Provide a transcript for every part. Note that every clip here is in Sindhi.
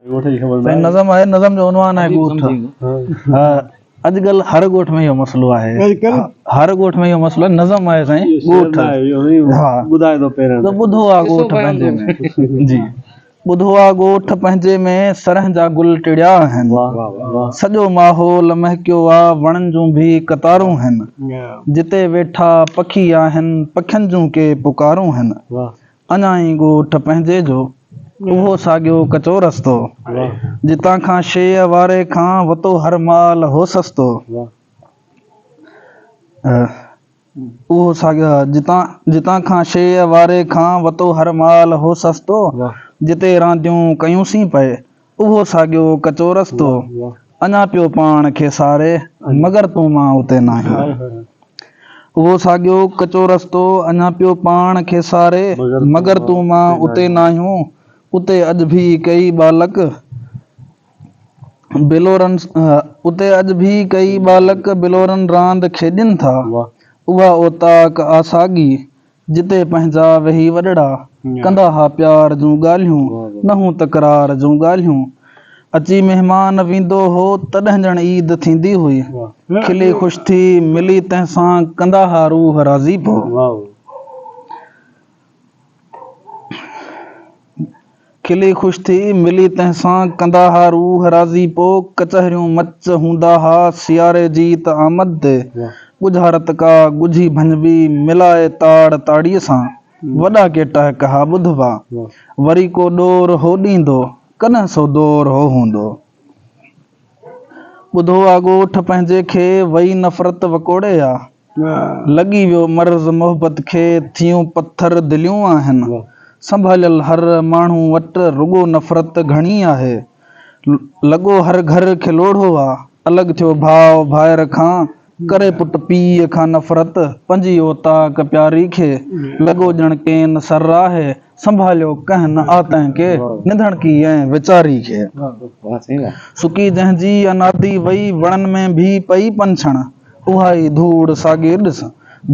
سائين نظم آهي نظم جو عنوان آهي ڳوٺ اڄڪلهه هر ڳوٺ ۾ اهو مسئلو آهي هر ڳوٺ ۾ اهو مسئلو آهي نظم آهي سائين ڳوٺ ها ٻڌائي ٿو پهريان ته ٻڌو آ ڳوٺ پنهنجي ۾ جي ٻڌو آ ڳوٺ پنهنجي ۾ سرهن جا گل ٽڙيا آهن سڄو ماحول مهڪيو آ وڻن جون ڀي قطارون هن جتي ويٺا پکي آهن پکين جون ڪي پڪارون هن اڃا هي ڳوٺ پنهنجي جو اهو ساڳيو ڪچو رستو جتان کان شيء واري کان وتو هر مال هو سستو اهو ساڳيو جتان جتان کان شيء واري کان وتو هر مال هو سستو جتي رانديون ڪيونسين پئي اهو ساڳيو ڪچو رستو اڃا پيو پاڻ کي ساري، مگر تون مان اتي ناهين. اهو ساڳيو ڪچو رستو اڃا پيو پاڻ کي ساري، مگر تون مان اتي ناهيون. اتي اڄ ڀي ڪيئي ٻالڪ بلورن اتي اڄ ڀي ڪيئي ٻالڪ بلورن راند کيڏين ٿا. اها اوطاق آ ساڳي، جتي پنهنجا ويهي وڏڙا، ڪندا ها پيار جون ڳالهيون، نه هون تڪرار جون ڳالهيون. اچي مهمان ويندو هو، تڏهن ڄڻ عيد ٿيندي هئي. کلي خوش ٿي، ملي تنهن سان، ڪندا ها روح راضي پوء. کلي خوش ٿي، ملي تنهن سان، ڪندا ها روح راضي پوء، ڪچهريون مچ هوندا ها، سياري جي ته آمد تي، ڳجها رتڪا، ڳجهي ڀڃبي، ملائي تاڙ تاڙيء سان، وڏا ڪي ٽهڪ ها ٻڌبا، وري ڪو ڏور هو ڏيندو، ڪڏهن سو دور هو هوندو. ٻڌو آ ڳوٺ پنهنجي کي، وئي نفرت وڪوڙي آ. لڳي ويو مرض محبت کي، ٿيون پٿر دليون آهن. سنڀاليل هر ماڻهو وٽ، رڳو نفرت گهڻي آهي. لڳو هر گهر کي لوڙهو آ، الڳ ٿيو ڀاء ڀائر کان. ڪري پٽ پيء کان نفرت، پنھنجي اوطاق پياري کي، لڳو ڄڻ ڪين سر آھي، سنڀاليو ڪنھن نه آ تنھن کي، ننڌڻڪي ۽ ويچاري کي. سڪي جنھن جي اناڌي وئي، وڻن ۾ ڀي پئي پنڇڻ، اھا ئي ڌوڙ ساڳي ڏس،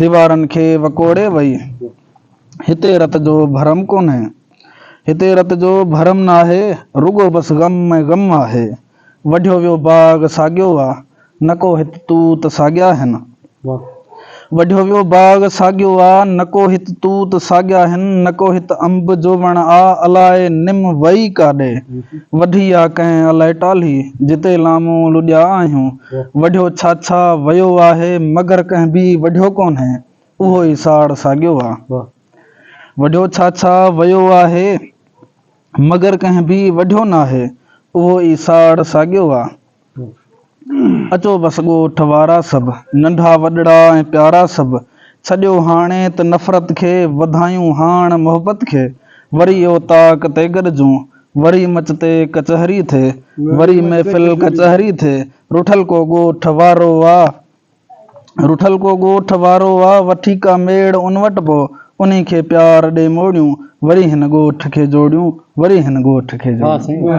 ديوارن کي وڪوڙي وئي. ھتي رت جو ڀرم ڪونھي. ھتي رت جو ڀرم ناھي، رڳو بس غم ۾ غم آھي. وڍيو ويو باغ ساڳيو آ، نڪو هت توت ساڳيا هن. واھ. وڍيو ويو باغ ساڳيو آ، نڪو هت توت ساڳيا هن، نڪو هت انب جو وڻ آ، الاء نم وئي ڪاڏي وڍي آ ڪنهن الائي ٽالهي، جتي لامون لڏيا آهيون. وڍيو ڇاڇا ويو آهي، مگر ڪنهن به وڍيو ڪونهي، اهو ئي ساڙ ساڳيو آ. واھ. وڍيو ڇاڇا ويو آهي. مگر ڪنهن به وڍيو ناهي، اهو ئي ساڙ ساڳيو آ. اچو بس ڳوٺ وارا سڀ، ننڍا وڏڙا ۽ پيارا سڀ، ڇڏيو هاڻي ته نفرت کي، وڌايون هاڻ محبت کي. وري اوطاق تي گڏجون، وري مچ تي ڪچهري ٿئي، وري محفل ڪچهري ٿئي، رٺل ڪو ڳوٺ وارو آ. رٺل ڪو ڳوٺ وارو آ، وٺي ڪا ميڙ ان وٽ پو، انهي کي پيار ڏي موڙيون، وري هن ڳوٺ کي جوڙيون، وري هن ڳوٺ کي جوڙيون.